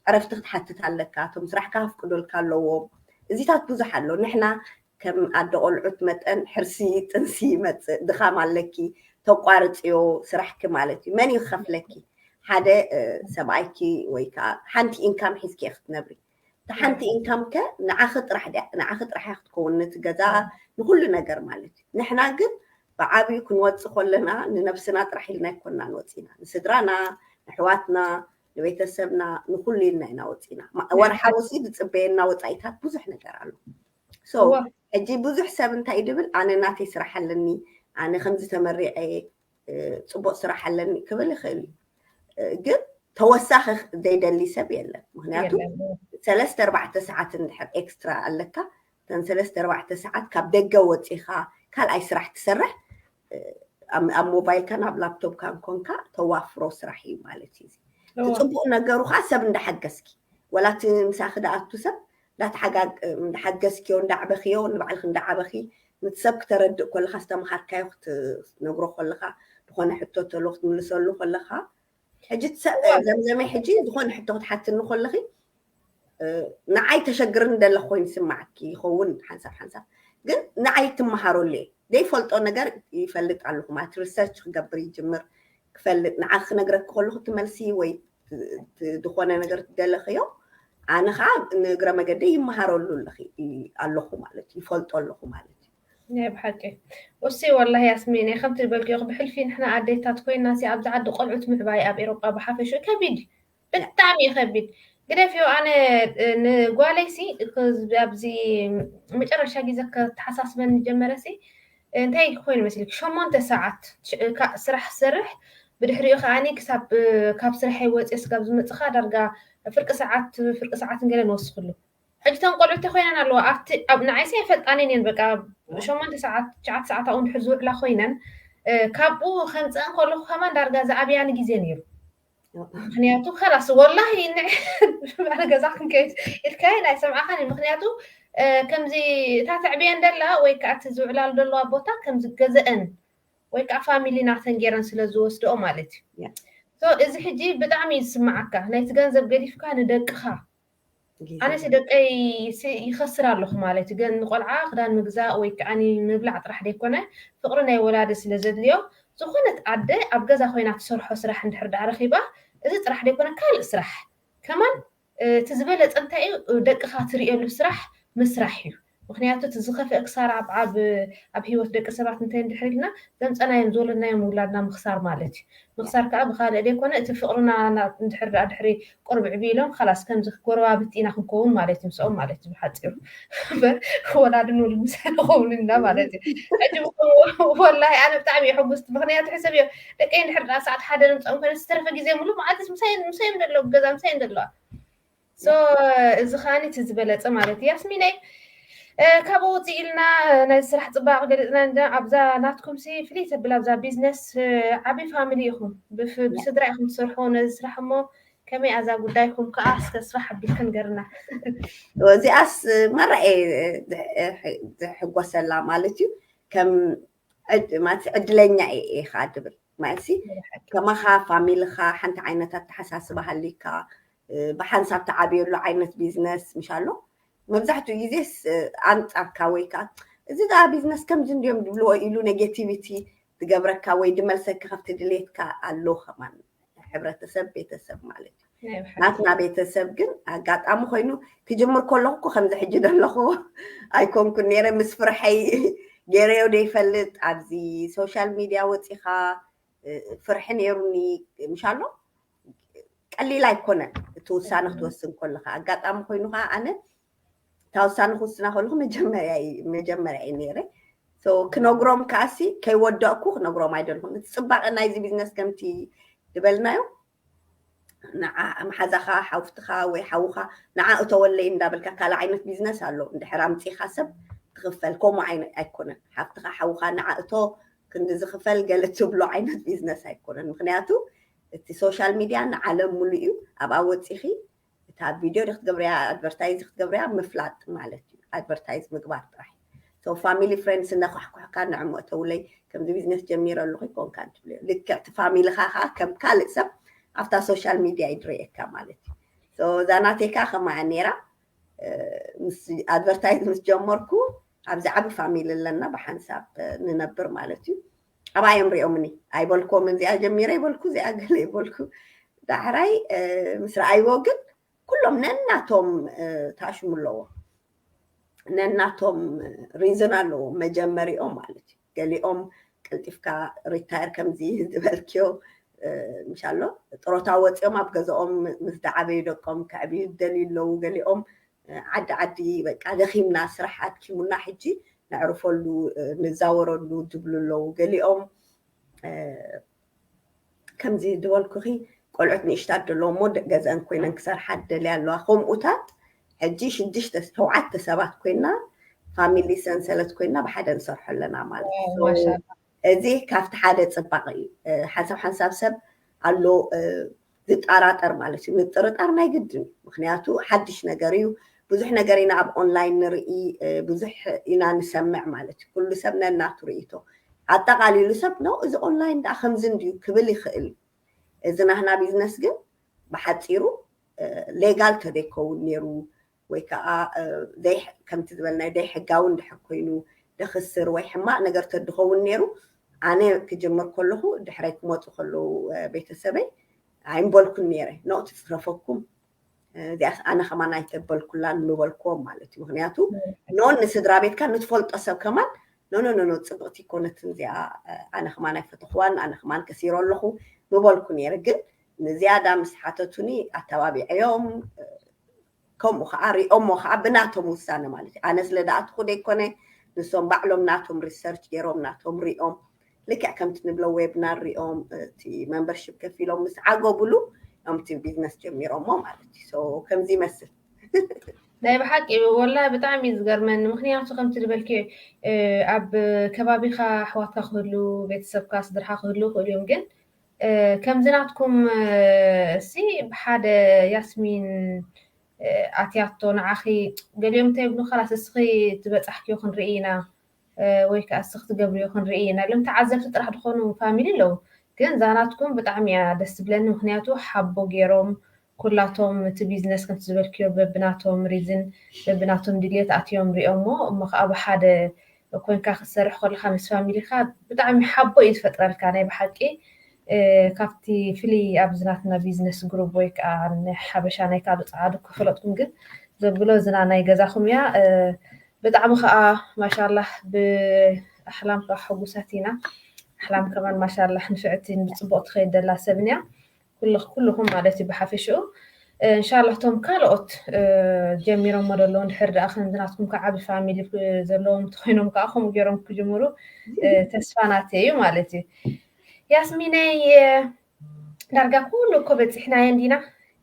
ዕረፍቲ ክትሓትት ኣለካ እቶም ስራሕካ ኣፍቅዶልካ ኣለዎም እዚታት ብዙሕ ኣሎ ንሕና ከም ኣደ ቆልዑት መጠን ሕርሲ ጥንሲ ይመጽእ ድኻም ኣለኪ ተቋርጽዮ ስራሕኪ ማለት እዩ መን እዩ ክኸፍለኪ ሓደ ሰብኣይኪ ወይ ከዓ ሓንቲ ኢንካም ሒዝኪ እየ ክትነብሪ እቲ ሓንቲ ኢንካም ከ ንዓኺ ጥራሕ ድያ ንዓኺ ጥራሕ እያ ክትከውን ነቲ ገዛ ንኩሉ ነገር ማለት እዩ ንሕና ግን ብዓብዩ ክንወፅእ ከለና ንነብስና ጥራሕ ኢልና ኣይኮናን ወፂና ንስድራና ንሕዋትና ንቤተሰብና ንኩሉ ኢልና ኢና ወፂና ወርሓዊ ሲ ዝፅበየና ወፃኢታት ብዙሕ ነገር ኣሎ ሶ እወ ሕጂ ብዙሕ ሰብ እንታይ ድብል ኣነ ናተይ ስራሕ ኣለኒ ኣነ ከምዚ ተመሪዐ እየ እ፣ ፅቡቅ ስራሕ ኣለኒ ክብል ይኽእል እዩ እ፣ ግን ተወሳኺ ዘይደሊ ሰብ የለን ምክንያቱ የለን እወ ሰለስተ ኣርባዕተ ሰዓት እንድሕር ኤክስትራ ኣለካ እተን ሰለስተ ኣርባዕተ ሰዓት ካብ ደገ ወፂኻ ካልኣይ ስራሕ ትሰርሕ ኣብ ሞባይልካን ኣብ ላፕቶፕካን ኮንካ ተዋፍሮ ስራሕ እዩ ማለት እዩ እቲ ፅቡቅ ነገሩ ከዓ ሰብ እንዳሓገዝኪ ወላ እቲ ምሳኺ ደኣቱ ሰብ እንዳሓገዝኪዮ እንዳዕበኽዮ ንባዕልኺ እንዳዓበኺ ነቲ ሰብ ክተረድእ ኮለኻ ዝተምሃርካዮ ክትነግሮ ኮለኻ ዝኾነ ሕቶ ተሎ ክትምልሰሉ ኮለኻ ሕጂ ዘምዘመይ ሕጂ ዝኾነ ሕቶ ክትሓትኒ ከለኺ ንዓይ ተሸግርን ደለኹ ኮይኑ ይስማዓኪ ይኸውን ሓንሳብ ሓንሳብ ግን ንዓይ ትመሃረሉ እየ ዘይፈልጦ ነገር ይፈልጥ ኣለኹ ማለት ሪሰርች ክገብር ይጅምር ክፈልጥ ንዓ ክነግረኪ ከለኹ ትመልሲ ወይ ዝኾነ ነገር ትደለኽዮ ኣነ ከዓ ንእግረ መገደይ ይመሃረሉ ኣለኹ ማለት ይፈልጦ ኣለኹ ማለት እዩ ናይ ብሓቂ ኡስይ ወላሂ ያስሚነይ ከምቲ ዝበልክዮኽ ብሕልፊ ንሕና ኣዴታት ኮይናሲ ኣብዚ ዓዲ ቆልዑት ምዕባይ ኣብ ኤሮጳ ብሓፈሽኡ ከቢድ እዩ ብጣዕሚ እዩ ከቢድ ግደፍዮ ኣነ ንጓለይሲ ኣብዚ መጨረሻ ግዜ ከተሓሳስበኒ ጀመረሲ እንታይ ኮይኑ መስልክ ሸሞንተ ሰዓት ስራሕ ዝሰርሕ ብድሕሪኡ ከዓኒ ክሳብ ካብ ስርሐይ ወፂ ስጋብ ዝመፅኻ ዳርጋ ፍርቂ ሰዓት ፍርቂ ሰዓት ንገለ ንወስኽሉ ሕጂ እተን ቆልዑ እንታይ ኮይነን ኣለዋ ኣብቲ ንዓይሲ ኣይፈልጣንን እየን በቃ ሸሞንተ ሰዓት ትሽዓተ ሰዓት ኣብኡ እንድሕር ዝውዕላ ኮይነን ካብኡ ከምፀአን ከለኩ ከማን ዳርጋ ዝኣብያኒ ግዜ ነይሩ ምክንያቱ ከላስ ወላሂ ንዕባለ ገዛ ክንከይድ ኢልካየን ኣይሰምዓኻን ምክንያቱ ከምዚ እታ ተዕብየን ደላ ወይ ከዓ እቲ ዝውዕላሉ ዘለዋ ቦታ ከምዚ ገዘአን ወይ ከዓ ፋሚሊ ናተን ገይረን ስለ ዝወስደኦ ማለት እዩ እዚ ሕጂ ብጣዕሚ እዩ ዝስምዓካ ናይቲ ገንዘብ ገዲፍካ ንደቅኻ ጊዜ ኣነሲ እዩ። ደቀይ ሲ ይኸስር ኣለኹ ማለት እዩ ገን ንቆልዓ ክዳን ምግዛእ ወይ ክኣ ምብላዕ ጥራሕ ደይኮነ ፍቅሪ ናይ ወላዲ ስለ ዘድልዮ ዝኾነት ኣደ ኣብ ገዛ ኮይና ትሰርሖ ስራሕ እንድሕር ድኣ ረኺባ እዚ ጥራሕ ደይኮነ ካልእ ስራሕ ከማን እቲ ዝበለጸ እንታይ እዩ ደቅኻ ትርእየሉ ስራሕ ምስራሕ እዩ ምኽንያቱ እቲ ዝኸፍኤ ክሳራ ኣብ ኣብ ኣብ ሂወት ደቂ ሰባት እንተ እንድሕር ኢልና ዘምጸናዮም ዝወለድናዮም ውላድና ምኽሳር ማለት እዩ ምኽሳር ከኣ ብኻልእ ደይኮነ እቲ ፍቕርና ናብ እንድሕር ደኣ ድሕሪ ቁርብ ዕብይ ኢሎም ኻላስ ከምዚ ጎረባብቲ ኢና ክንኮውን ማለት እዩ ምስኦም ማለት እዩ ብሓጺሩ እምበር ወላድን ውሉድ ምሳይ ንኸውን ኢና ማለት እዩ ሕጂ ወላሂ ኣነ ብጣዕሚ እየ ሕጉስቲ ምኽንያቱ ሕሰብዮ ደቀይ እንድሕር ደኣ ሰዓት ሓደ ንምጽኦም ኮይነ ዝተረፈ ግዜ ሙሉእ መዓልትስ ምሳይ ምሳይ እዮም ዘለዉ ገዛ ምሳይ እዮም ዘለዋ ሶ እዚ ከዓኒ እቲ ዝበለፀ ማለት እዩ ያስሚነይ ካብኡ ውፅእ ኢልና ነዚ ስራሕ ፅባቕ ገሊፅና ኣብዛ ናትኩም ሲ ፍልይ ተብል ኣብዛ ቢዝነስ ዓብዪ ፋሚሊ ኢኹም ብስድራ ኢኹም ትሰርሑ ነዚ ስራሕ እሞ ከመይ ኣዛ ጉዳይኩም ከዓ እስከ ስፋሕ ኣቢልክ ንገርና እዚኣስ ማራ ዝሕጎሰላ ማለት እዩ ከም ማለት ዕድለኛ ኢኻ ድብል ማኤሲ ከማኻ ፋሚልኻ ሓንቲ ዓይነት ኣተሓሳስባ ሃልይካ ብሓንሳብ ተዓብየሉ ዓይነት ቢዝነስ ምሽ ኣሎ መብዛሕትኡ ግዜስ ኣንጻርካ ወይ ከዓ እዚ ደኣ ቢዝነስ ከምዚ እንድዮም ድብልዎ ኢሉ ኔጌቲቪቲ ዝገብረካ ወይ ድመልሰካ ካብቲ ድሌትካ ኣሎ ከማን ሕብረተሰብ ቤተሰብ ማለት እዩ። ናትና ቤተሰብ ግን ኣጋጣሚ ኮይኑ ክጅምር ከለኹ እኮ ከምዚ ሕጂ ዘለኹዎ ኣይኮንኩን ነይረ ምስ ፍርሐይ ገይረዮ ዘይፈልጥ ኣብዚ ሶሻል ሚድያ ወፂኻ ፍርሒ ነይሩኒ ምሽ ኣሎ ቀሊል ኣይኮነን እቲ ውሳነ ክትወስን ከለካ ኣጋጣሚ ኮይኑ ከዓ ኣነ እታ ውሳነ ክውስና ከለኩ መጀመርያ መጀመርያ እዩ ነይረ ክነግሮም ከዓሲ ከይወደቕኩ ክነግሮም ኣይደልኹን እቲ ፅባቐ ናይዚ ቢዝነስ ከምቲ ዝበልናዮ ንዓ መሓዛኻ ሓውትኻ ወይ ሓውኻ ንዓ እተወለይ እንዳበልካ ካልእ ዓይነት ቢዝነስ ኣሎ እንድሕር ኣምጺኻ ሰብ ትኽፈል ከምኡ ዓይነት ኣይኮነን ሓፍትኻ ሓውኻ ንዓ እቶ ክንዲ ዝኽፈል ገለ ትብሎ ዓይነት ቢዝነስ ኣይኮነን ምክንያቱ እቲ ሶሻል ሚድያ ንዓለም ሙሉእ እዩ ኣብኣ ወጺኺ እታ ቪድዮ ክትገብርያ ኣድቨርታይዝ ክትገብርያ ምፍላጥ ማለት እዩ ኣድቨርታይዝ ምግባር ጥራሕ ሶ ፋሚሊ ፍሬንድስ እናኳሕኩሕካ ንዕሞ እተውለይ ከምዚ ቢዝነስ ጀሚረ ኣለኹ ይኮንካ እንትብልዮ ልክዕ እቲ ፋሚልኻ ከዓ ከም ካልእ ሰብ ኣብታ ሶሻል ሚድያ ይድረየካ ማለት እዩ ሶ እዛ ናተይ ከዓ ከማያ ነይራ ምስ ኣድቨርታይዝ ምስ ጀመርኩ ኣብዚ ዓቢ ፋሚሊ ኣለና ብሓንሳብ ንነብር ማለት እዩ ኣብኣ እዮም ሪኦምኒ ኣይበልኮምን እዚኣ ጀሚረ ይበልኩ እዚኣ ገለ ይበልኩ ዳሕራይ ምስ ረኣይዎ ግን ኩሎም ነናቶም ታሽሙ ኣለዎ ነናቶም ሪዝን ኣለዎ መጀመሪኦም ማለት እዩ ገሊኦም ቀልጢፍካ ሪታየር ከምዚ ዝበልክዮ እንሻሎ ጥሮታ ወፂኦም ኣብ ገዛኦም ምስ ዳዓበዩ ደቆም ከዕብዩ ደልዩ ኣለዉ ገሊኦም ዓዲ ዓዲ በቃ ደኺምና ስራሕ ኣድኪሙና ሕጂ ነዕርፈሉ ንዛወረሉ ዝብሉ ኣለዉ ገሊኦም ከምዚ ዝበልኩኺ ቆልዑት ንእሽታት ደለዎ እሞ ገዘን ኮይነን ክሰርሓ ዝደልያ ኣለዋ ከምኡታት ሕጂ ሽዱሽተ ሸውዓተ ሰባት ኮይና ፋሚሊ ሰንሰለት ኮይና ብሓደ ንሰርሖ ኣለና ማለት እዩ እዚ ካብቲ ሓደ ፅባቕ እዩ ሓንሳብ ሓንሳብ ሰብ ኣሎ ዝጣራጠር ማለት እዩ ምጥርጣር ናይ ግድን እዩ ምክንያቱ ሓድሽ ነገር እዩ ብዙሕ ነገር ኢና ኣብ ኦንላይን ንርኢ ብዙሕ ኢና ንሰምዕ ማለት እዩ ኩሉ ሰብ ነናቱ ርእይቶ ኣጠቃሊሉ ሰብ ነው እዚ ኦንላይን ዳኣ ከምዚ እንድዩ ክብል ይኽእል እዩ እዚ ናህና ቢዝነስ ግን ብሓፂሩ ሌጋል ተደይከውን ነይሩ ወይ ከኣ ከምቲ ዝበልናዮ ዘይሕጋዊ እንድሕር ኮይኑ ደኽስር ወይ ሕማቕ ነገር ተድኸውን ነይሩ ኣነ ክጅምር ከለኹ ድሕረይ ክመጹ ከለዉ ቤተሰበይ ኣይምበልኩን ነይረ ኖ ትጽረፈኩም እዚኣስ ኣነ ከማን ኣይተበልኩላን ምበልክዎም ማለት እዩ ምክንያቱ ኖን ንስድራ ቤትካ ንትፈልጦ ሰብ ከማን ኖኖኖኖ ፅብቕቲ ኮነትን እዚኣ ኣነ ከማን ኣይፈተኽዋን ኣነ ከማን ከሲሮ ኣለኹ ምበልኩ ነይረ ግን ንዝያዳ ምስ ሓተቱኒ ኣተባቢዐዮም ከምኡ ከዓ ሪኦሞ ከዓ ብናቶም ውሳነ ማለት እዩ ኣነ ስለ ዝኣትኹ ዘይኮነ ንሶም ባዕሎም ናቶም ሪሰርች ገይሮም ናቶም ሪኦም ልክዕ ከምቲ ንብሎ ዌብናር ሪኦም እቲ መምበርሽፕ ከፊሎም ምስ ዓገቡሉ እዮም እቲ ቢዝነስ ጀሚሮሞ ማለት እዩ ሶ ከምዚ ይመስል ናይ ብሓቂ ወላሂ ብጣዕሚ እዩ ዝገርመኒ ምክንያቱ ከምቲ ዝበልክዮ ኣብ ከባቢካ ኣሕዋትካ ክህሉ ቤተሰብካ ስድርካ ክህሉ ይኽእሉ እዮም ግን ከምዚ ናትኩም ሲ ብሓደ ያስሚን ኣትያቶ ንዓኺ ገሊኦም እንታይ ይብሉ ከላስ እስኺ ትበጻሕክዮ ክንርኢ ኢና ወይ ከኣ እስኺ ትገብርዮ ክንርኢ ኢና ኢሎም ተዓዘብቲ ጥራሕ ድኾኑ ፋሚሊ ኣለዉ ግን እዛ ናትኩም ብጣዕሚ እያ ደስ ትብለኒ ምኽንያቱ ሓቦ ጌሮም ኩላቶም እቲ ቢዝነስ ከምቲ ዝበልክዮ በብናቶም ሪዝን በብናቶም ድልየት ኣትዮም ሪኦሞ እሞ ከኣ ብሓደ ኮንካ ክትሰርሕ ኮለካ ምስ ፋሚሊካ ብጣዕሚ ሓቦ እዩ ዝፈጥረልካ ናይ ብሓቂ ካብቲ ፍልይ ኣብዚ ናትና ቢዝነስ ግሩብ ወይ ከኣ ናይ ሓበሻ ናይ ካልእ ጸዓዱ ክፈለጥኩም ግን ዘብሎ ዝና ናይ ገዛኩም እያ ብጣዕሚ ከኣ ማሻላህ ብኣሕላም ከኣ ሕጉሳት ኢና ኣሕላም ከማን ማሻላህ ንፍዕቲ ብጽቡቅ ትከይድ ደላ ሰብን እያ ኩሉኹም ማለት እዩ ብሓፈሽኡ እንሻላ እቶም ካልኦት ጀሚሮሞ ደለዉ እንድሕር ደኣ ከምዚ ናትኩም ከዓ ዓብዪ ፋሚሊ ዘለዎም እንተኮይኖም ከዓ ከምኡ ገይሮም ክጅምሩ ተስፋ ናተይ እዩ ማለት እዩ ያስሚነይ ዳርጋ ኩሉ እኮ በፂሕናዮ እንዲና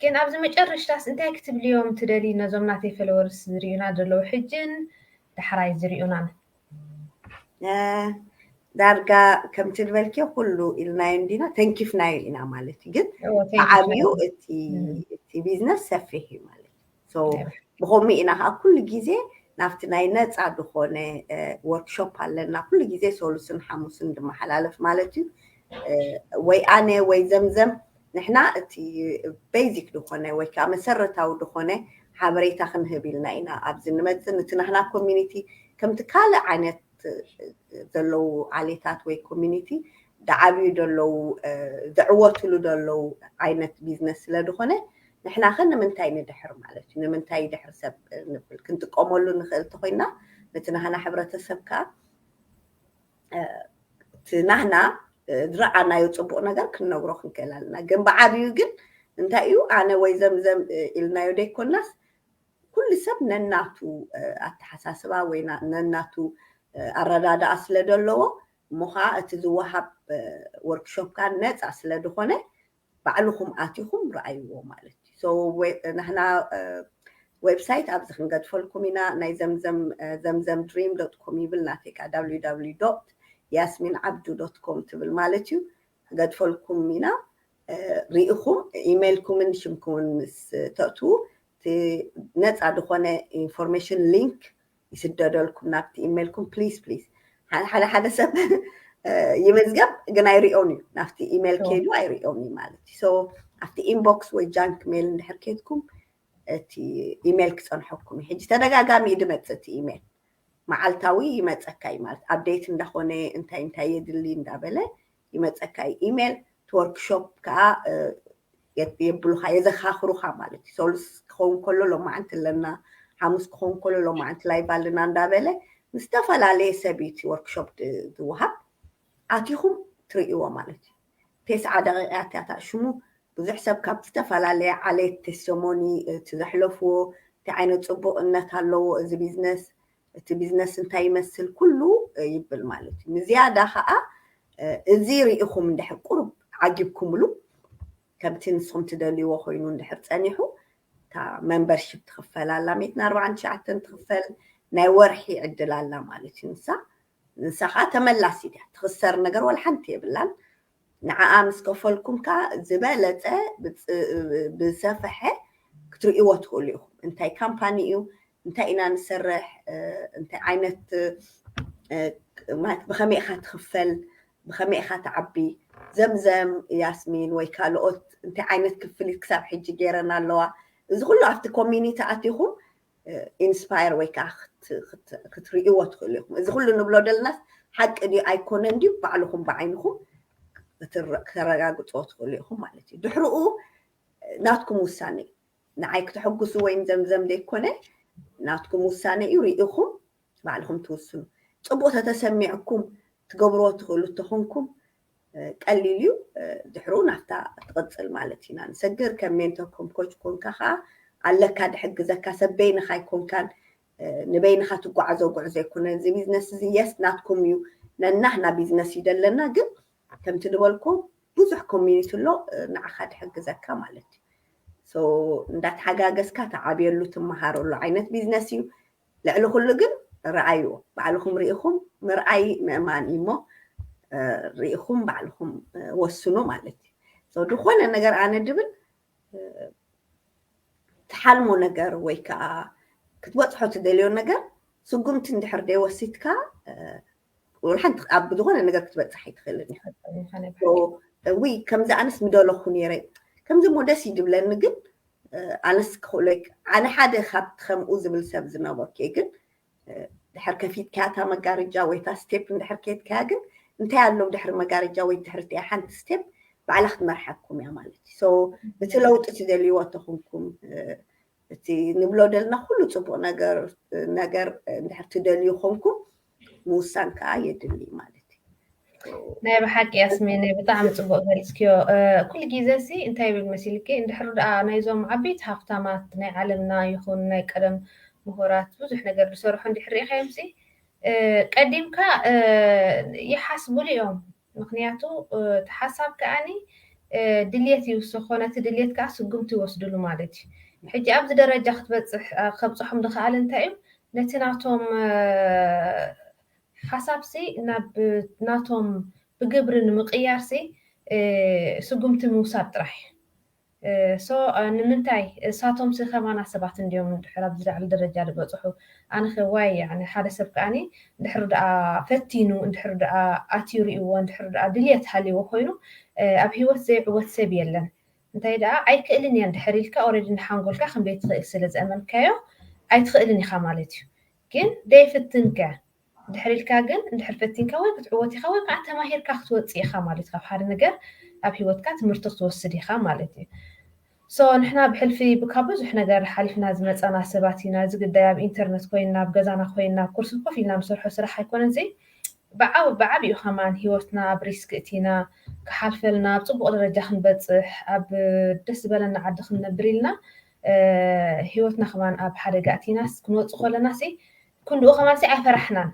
ግን ኣብዚ መጨረሽታስ እንታይ ክትብልዮም ትደልዪ ነዞም ናተይ ፈለወርስ ዝሪኡና ዘለዉ ሕጅን ዳሕራይ ዝሪኡናን ዳርጋ ከምቲ ዝበልክዮ ኩሉ ኢልናዮ እንዲና ተንኪፍናዮ ኢና ማለት እዩ ግን ብዓብዩ እቲ ቢዝነስ ሰፊሕ እዩ ማለት እዩ ብከምኡ ኢና ከዓ ኩሉ ግዜ ናብቲ ናይ ነፃ ዝኾነ ወርክሾፕ ኣለና ኩሉ ግዜ ሰሉስን ሓሙስን ዝመሓላለፍ ማለት እዩ ወይ ኣነ ወይ ዘምዘም ንሕና እቲ basic ዝኾነ ወይ ከኣ መሰረታዊ ዝኾነ ሓበሬታ ክንህብ ኢልና ኢና ኣብዚ ንመጽእ ንቲ ናህና community ከምቲ ካልእ ዓይነት ዘለዉ ዓሌታት ወይ community ድዓብዩ ደለዉ ድዕወትሉ ደለዉ ዓይነት ቢዝነስ ስለ ድኾነ ንሕናኸ ንምንታይ ንድሕር ማለት እዩ ንምንታይ ይድሕር ሰብ ንብል ክንጥቀመሉ ንኽእል ተኾይና ንቲ ናህና ሕብረተሰብ ከኣ ናህና ዝረኣናዮ ፅቡቅ ነገር ክንነግሮ ክንክእል ኣለና ግን ብዓብዩ ግን እንታይ እዩ ኣነ ወይ ዘምዘም ኢልናዮ ደይኮናስ ኩሉ ሰብ ነናቱ ኣተሓሳስባ ወይ ነናቱ ኣረዳድኣ ስለ ዘለዎ እሞ ከዓ እቲ ዝወሃብ ወርክሾፕ ከዓ ነፃ ስለ ዝኾነ ባዕልኹም ኣቲኹም ርኣይዎ ማለት እዩ so ንሕና ዌብሳይት ኣብዚ ክንገድፈልኩም ኢና ናይ ዘምዘም ዘምዘም ድሪም ዶት ኮም ይብል ናተይ ከኣ ዳብሊው ዳብሊው ዶት ያስሚን ዓብዱ ዶት ኮም ትብል ማለት እዩ ክገድፈልኩም ኢና ርኢኹም ኢሜይልኩምን ሽምኩምን ምስ ተእትዉ እቲ ነፃ ዝኾነ ኢንፎርሜሽን ሊንክ ይስደደልኩም ናብቲ ኢሜልኩም ፕሊስ ፕሊስ ሓደ ሓደ ሰብ ይመዝገብ ግን ኣይሪኦን እዩ ናብቲ ኢሜል ከይዱ ኣይሪኦን እዩ ማለት እዩ ኣብቲ ኢንቦክስ ወይ ጃንክ ሜል እንድሕር ከይድኩም እቲ ኢሜል ክፀንሐኩም እዩ ሕጂ ተደጋጋሚ እዩ ድመፅእ እቲ ኢሜል መዓልታዊ ይመፀካ እዩ ማለት ኣብዴት እንዳኾነ እንታይ እንታይ የድሊ እንዳበለ ይመጸካ እዩ ኢሜል እቲ ወርክሾፕ ከኣ የብሉኻ የዘኻኽሩኻ ማለት እዩ ሰሉስ ክኸውን ከሎ ሎማዓንቲ ኣለና ሓሙስ ክኸውን ከሎ ሎማዓንቲ ላይቭ ኣለና እንዳበለ ምስ ዝተፈላለየ ሰብ እዩ እቲ ወርክሾፕ ዝወሃብ ኣቲኹም ትርእይዎ ማለት እዩ ቴስዓ ደቂቃ እቲያታ ሽሙ ብዙሕ ሰብ ካብ ዝተፈላለየ ዓሌት ቴስቶሞኒ እቲ ዘሕለፍዎ እንታይ ዓይነት ፅቡቕነት ኣለዎ እዚ ቢዝነስ እቲ ቢዝነስ እንታይ ይመስል ኩሉ ይብል ማለት እዩ። ንዝያዳ ከኣ እዚ ርኢኹም እንድሕር ቁሩብ ዓጊብኩምሉ ከምቲ ንስኹም ትደልይዎ ኮይኑ እንድሕር ጸኒሑ እታ መምበርሺፕ ትኽፈል ኣላ ሚእትን ኣርብዓን ትሽዓተን ትኽፈል ናይ ወርሒ ዕድል ኣላ ማለት እዩ ንሳ ንሳ ከኣ ተመላሲት እያ ትኽሰር ነገር ወላ ሓንቲ የብላን። ንዓኣ ምስ ከፈልኩም ከኣ ዝበለጸ ብዝሰፈሐ ክትርእይዎ ትኽእሉ ኢኹም። እንታይ ካምፓኒ እዩ፣ እንታይ ኢና ንሰርሕ፣ እንታይ ዓይነት ማለት ብኸመይ ኢኻ ትኽፈል፣ ብኸመይ ኢኻ ትዓቢ፣ ዘምዘም፣ ያስሚን ወይ ካልኦት እንታይ ዓይነት ክፍሊት ክሳብ ሕጂ ገይረን ኣለዋ፣ እዚ ኩሉ ኣብቲ ኮሚኒቲ ኣቲኹም ኢንስፓየር ወይ ከዓ ክትርእይዎ ትኽእሉ ኢኹም። እዚ ኩሉ ንብሎ ደለናስ ሓቂ ድዩ ኣይኮነን ድዩ ባዕልኹም ብዓይንኹም ከተረጋግፅዎ ትኽእሉ ኢኹም ማለት እዩ። ድሕርኡ ናትኩም ውሳነ እዩ። ንዓይ ክተሕጉሱ ወይም ዘምዘም ዘይኮነ ናትኩም ውሳነ እዩ ርኢኹም ባዕልኹም ትውስኑ። ጽቡቕ ተተሰሚዕኩም ትገብርዎ ትኽእሉ እተኾንኩም ቀሊል እዩ ድሕሩ ናብታ ትቕጽል ማለት ኢና ንሰግር ከም ሜንቶር ከም ኮች ኮንካ ከኣ ኣለካ ድሕግዘካ ሰብ በይንኻ ኣይኮንካን ንበይንኻ ትጓዓዞ ጉዕዞ ኣይኮነን እዚ ቢዝነስ እዚ የስ ናትኩም እዩ ነናህና ቢዝነስ እዩ ደለና ግን ከምቲ ድበልኩ ብዙሕ ኮሚኒቲ ኣሎ ንዓኻ ድሕግዘካ ማለት እዩ ሶ እንዳተሓጋገዝካ ትዓብየሉ ትመሃረሉ ዓይነት ቢዝነስ እዩ ልዕሊ ኩሉ ግን ርኣይዎ ባዕልኹም ርኢኹም ምርኣይ ምእማን እዩ እሞ ርኢኹም ባዕልኹም ወስኑ ማለት እዩ ሰው ዝኾነ ነገር ኣነ ድብል ትሓልሞ ነገር ወይ ከዓ ክትበፅሖ ትደልዮ ነገር ስጉምቲ እንድሕር ደይወሲድካ ሓንቲ ኣብ ዝኾነ ነገር ክትበፅሕ ኣይትኽእልን እያ ውይ ከምዚ ኣነስ ምደለኹ ነይረ ከምዚ እሞ ደስ እዩ ዝብለኒ ግን ኣነስ ክኽእሎ ኣነ ሓደ ካብቲ ከምኡ ዝብል ሰብ ዝነበርኩ እየ ግን ድሕር ከፊትካያ እታ መጋረጃ ወይ እታ ስቴፕ እንድሕር ከየትካያ ግን እንታይ ኣሎ ድሕሪ መጋረጃ ወይ ድሕሪ እቲኣ ሓንቲ ስቴፕ ባዕላ ክትመርሓኩም እያ ማለት እዩ እቲ ለውጢ እቲ ዘልዎ ተኹንኩም እቲ ንብሎ ደልና ኩሉ ፅቡቅ ነገር ነገር እንድሕር ትደልዩ ኮንኩም ምውሳን ከዓ የድሊ ማለት እዩ። ናይ ብሓቂ ያስሜን ብጣዕሚ ፅቡቅ ገሊፅክዮ ኩሉ ግዜ ሲ እንታይ ይብል መሲልኪ እንድሕር ድኣ ናይዞም ዓበይቲ ሃፍታማት ናይ ዓለምና ይኹን ናይ ቀደም ምሁራት ብዙሕ ነገር ዝሰርሑ እንድሕር ርኢኻዮም ሲ ቀዲምካ ይሓስቡሉ እዮም ምኽንያቱ እቲ ሓሳብ ከኣ ድልየት ይውስኾ ነቲ ድልየት ከኣ ስጉምቲ ይወስድሉ ማለት እዩ። ሕጂ ኣብዚ ደረጃ ክትበጽሕ ከብጽሖም ዝኸኣለ እንታይ እዩ ነቲ ናቶም ሓሳብሲ ናብ ናቶም ብግብሪ ንምቕያርሲ ስጉምቲ ምውሳድ ጥራሕ እዩ። so ንምንታይ እሳቶምሲ ከማና ሰባት እንድዮም እንድሕር ኣብዚ ላዕሊ ደረጃ ድበጽሑ ኣነኸ ዋይ ያዕኒ ሓደ ሰብ ከኣ ድሕሪ ደኣ ፈቲኑ እንድሕሪ ደኣ ኣትዩ ሪእዎ እንድሕሪ ደኣ ድልየት ሃልይዎ ኮይኑ ኣብ ሂወት ዘይዕወት ሰብ የለን እንታይ ደኣ ኣይክእልን እየ እንድሕር ኢልካ ኦረዲ ንሓንጎልካ ከምዘይትኽእል ስለ ዘእመንካዮ ኣይትኽእልን ኢኻ ማለት እዩ ግን ደይፍትንከ ድሕር ኢልካ ግን እንድሕር ፈቲንካ ወይ ክትዕወት ኢኻ ወይ ካዓ ተማሂርካ ክትወፅእ ኢኻ ማለት እዩ ካብ ሓደ ነገር ኣብ ሂወትካ ትምህርቲ ክትወስድ ኢኻ ማለት እዩ so ንሕና ብሕልፊ ካብ ብዙሕ ነገር ሓሊፍና ዝመፃና ሰባት ኢና እዚ ግዳይ ኣብ ኢንተርነት ኮይና ኣብ ገዛና ኮይና ኣብ ኩርሲ ኮፍ ኢልና ንሰርሖ ስራሕ ኣይኮነን እዚ ብዓብ ብዓቢኡ ከማን ሂወትና ኣብ ሪስክ እቲና ክሓልፈልና ኣብ ፅቡቅ ደረጃ ክንበፅሕ ኣብ ደስ ዝበለና ዓዲ ክንነብር ኢልና ሂወትና ከማን ኣብ ሓደጋ እቲናስ ክንወፅእ ከለና ሲ ክንድኡ ከማንሲ ኣይፈራሕናን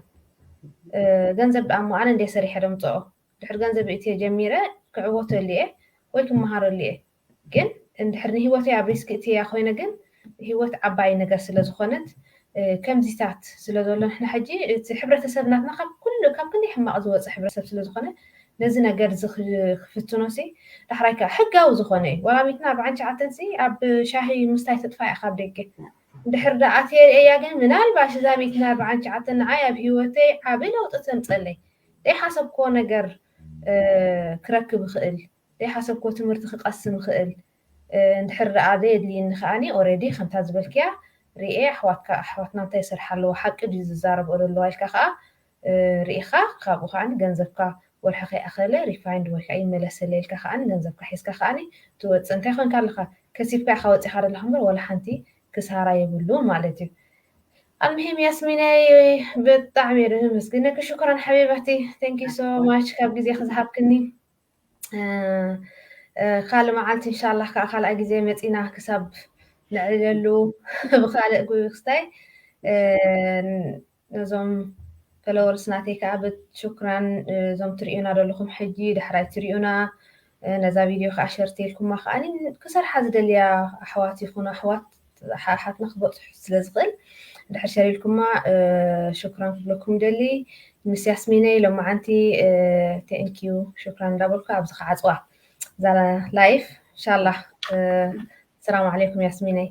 ገንዘብ ደኣሞ ኣነ እንድየ ሰሪሐ ደምፅኦ ድሕር ገንዘብ እእትየ ጀሚረ ክዕወተሉ እየ ወይ ክመሃረሉ እየ ግን እንድሕር ንሂወተይ ኣብ ሪስክ እእትየያ ኮይነ ግን ሂወት ዓባይ ነገር ስለዝኾነት ከምዚታት ስለዘሎ ንሕና ሕጂ እቲ ሕብረተሰብ ናትና ካብ ኩሉ ካብ ክንደይ ሕማቕ ዝወፀ ሕብረተሰብ ስለዝኾነ ነዚ ነገር እዚ ክፍትኖሲ ዳሕራይ ከዓ ሕጋዊ ዝኾነ እዩ ወላሚትና ኣርባዓን ትሽዓተንሲ ኣብ ሻሂ ምስታይ ተጥፋእ እያ ካብ ደገ እንድሕር ደኣ ተሪኤያ ግን ምናልባሽ እዛ ቤት እያ በዓል ትሽዓተ ንዓይ ኣብ ሂወተይ ዓቢ ለውጢ ተምጸለይ ደይሓሰብክዎ ነገር ክረክብ እኽእል ደይሓሰብክዎ ትምህርቲ ክቀስም እኽእል እንድሕር ደኣ ዘየድልይኒ ከኣ ኦረዲ ከምታ ዝበልክያ ሪኤ ኣሕዋትካ ኣሕዋትና እንታይ ይሰርሓ ኣለዋ ሓቂ ድዩ ዝዛረብኦ ዘለዋ ኢልካ ከኣ ሪኢኻ ካብኡ ከኣ ገንዘብካ ወርሒ ከይኣኸለ ሪፋይንድ ወይ ከኣ ይመለሰለይ ኢልካ ከኣ ገንዘብካ ሒዝካ ከኣ ትወጽእ እንታይ ኮንካ ኣለኻ ከሲብካ ኢኻ ወጺኻ ዘለኻ እምበር ዋላ ሓንቲ ክሳራ የብሉን ማለት እዩ ኣልምሂም ያስሚነይ ብጣዕሚ እየ ዘመስግነኪ ሽኩራን ሓቢበቲ ቴንክ ዩ ሶ ማች ካብ ግዜኺ ዝሃብክኒ ካልእ መዓልቲ እንሻላ ከዓ ካልኣ ግዜ መፂና ክሳብ ንዕለሉ ብካልእ ክስታይ ነዞም ፈለወርስ ናተይ ከኣ ብ ሹክራን እዞም ትርእዩና ዘለኹም ሕጂ ዳሕራይ ትሪኡና ነዛ ቪድዮ ከኣ ሸር ተልኩማ ከኣ ክሰርሓ ዝደልያ ኣሕዋት ይኹኑ ኣሕዋት ኣሓትና ክበጽሑ ስለ ዝኽእል ድሕር ሸር ኢልኩማ ሹክራን ክብለኩም ደሊ ምስ ያስሚነይ ሎማዓንቲ ቴንኪዩ ሹክራን እንዳበልኩ ኣብዚ ከዓጽዋ እዛ ላይፍ ኢንሻላህ ሰላም ዓለይኩም ያስሚነይ